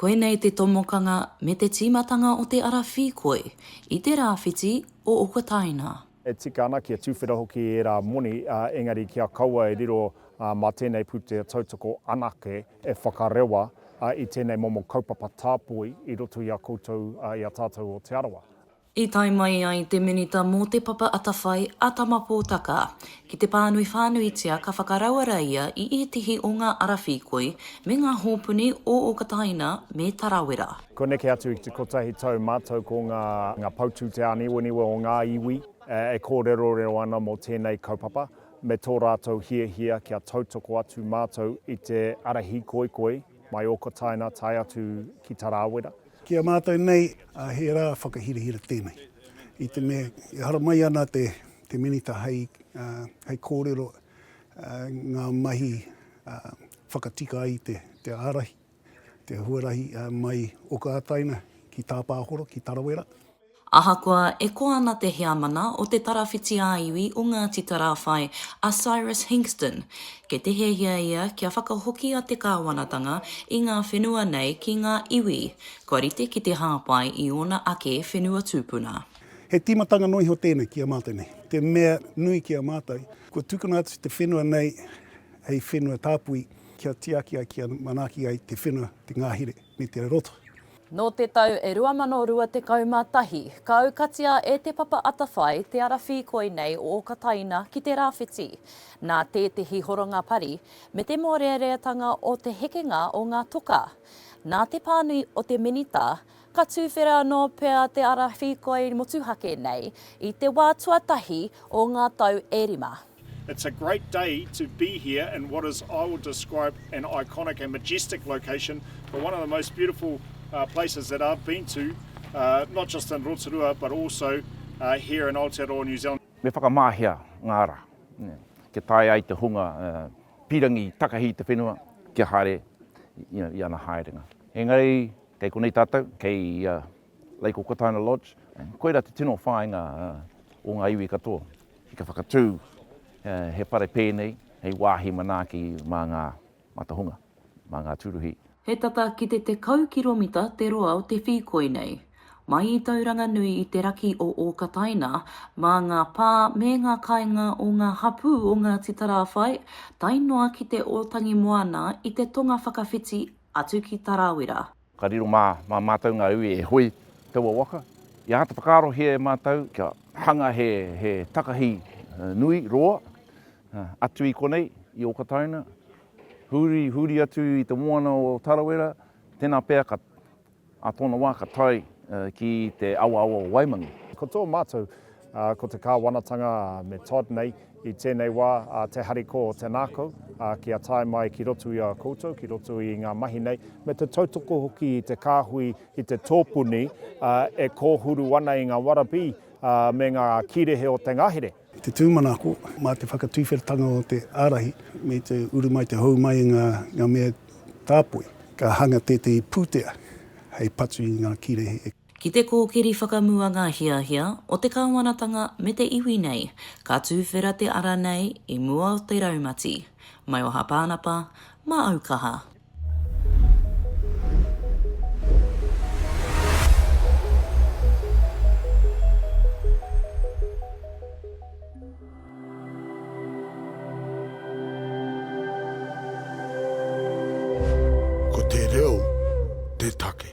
Koinei te tomokanga me te tīmatanga o te ara whīkoi i te rāwhiti o Okataina. E tika ana kia tuwhera hoki ērā moni, engari kia kaua e riro mā tēnei pūtea tautoko anake e whakarewa i tēnei momo kaupapa tāpoi i roto i a koutou, i a tātou o Te Arawa. I tae mai ai te Minita mō Te Papa Atawhai, a Tama Pōtaka, ki te pānui whānuitia ka whakarauara ia i ētehi o ngā ara whīkoi me ngā hōpuni o Okataina me Tarawera. Kua neke atu i te kotahi tau mātou ko ngā poutu te āniwaniwa o ngā iwi e kōrerorero ana mō tēnei kaupapa me tō rātou hiahia kia tautoko atu mātou i te ara hīkoikoi mai Okataina tae atu ki Tarawera. Ki a mātou nei, he rā whakahirahira tēnei. I te mea, e haramai ana te Minita hei kōrero ngā mahi whakatika ai te ārahi, te huarahi mai Okātaina ki Tāpāhoro, ki Tarawera. Ahakoa e koa ana te heamana o te tarawhiti ā-iwi o Ngāti Tarāwhai a Cyrus Hinxton, kei te hiahia ia kia whakahokia te kāwanatanga i ngā whenua nei ki ngā iwi kua rite ki te hāpai i ōna ake whenua tūpuna. He tīmatanga noa iho tēnei ki a mātou nei. Te mea nui ki a mātou, kua tukuna atu te whenua nei hei whenua tāpui kia tiaki ai, kia manaaki ai te whenua, te ngahere me te raroto. Nō te tau e 2021, ka aukatia e Te Papa Atawhai te ara whīkoi nei o Okataina ki te rāwhiti, nā tētehi horonga pari me te mōreareatanga o te hekenga o ngā toka. Nā te pānui o te Minita, ka tūwhera anō pea te ara whīkoi motuhake nei i te wā tuatahi o ngā tau e rima. It's a great day to be here in what is I will describe an iconic and majestic location but one of the most beautiful places that I've been to not just in Rotorua but also here in Aotearoa New Zealand. Me whakamahia ngā ara kia tae ai te hunga pīrangi takahi i te whenua kia haere i ana haerenga. Engari kei konei tātou, kei Lake Okataina Lodge, koirā te tino whāinga o ngā iwi katoa ki te whakatū he whare pēnei hei wāhi manaaki mā ngā matahunga, mā ngā tūruhi. He tata ki te tekau kiromita te roa o te whīkoi nei. Mai i Tauranga nui i te raki o Okataina, mā ngā pā me ngā kāinga o ngā hapū o Ngāti Tarāwhai tae noa ki te Ōtangimoana i te tonga whakawhiti atu ki Tarawera. Ka riro mā, mā mātou ngā iwi e hoe taua waka. I āta whakaarohia e mātou kia hanga he, he takahi nui, roa, atu i konei, i Okataina, huri, huri atu i te moana o Tarawera, tēnā pea ka, ā tōna wā ka tae ki te awaawa o Waimangi. Ko tō mātou Ko te kāwanatanga me Todd nei i tēnei wā te harikoa o te nākau kia tae mai ki roto i a koutou, ki roto i ngā mahi nei, me te tautoko hoki i te kāhui, i te tōpuni e kōhuru ana i ngā warabī me ngā kīrehe o te ngahere. I te tūmanako, mā te whakatuwheratanga o te ārahi me te uru mai, te hou mai i ngā mea tāpoi, ka hanga tētahi pūtea hei patu i ngā kīrehe e. Ki te kōkiri whakamua ngā hiahia o te kāwanatanga me te iwi nei, ka tūwhera te ara nei i mua o te raumati. Maioha Pānapa, mā au kaha. Ko te reo te take.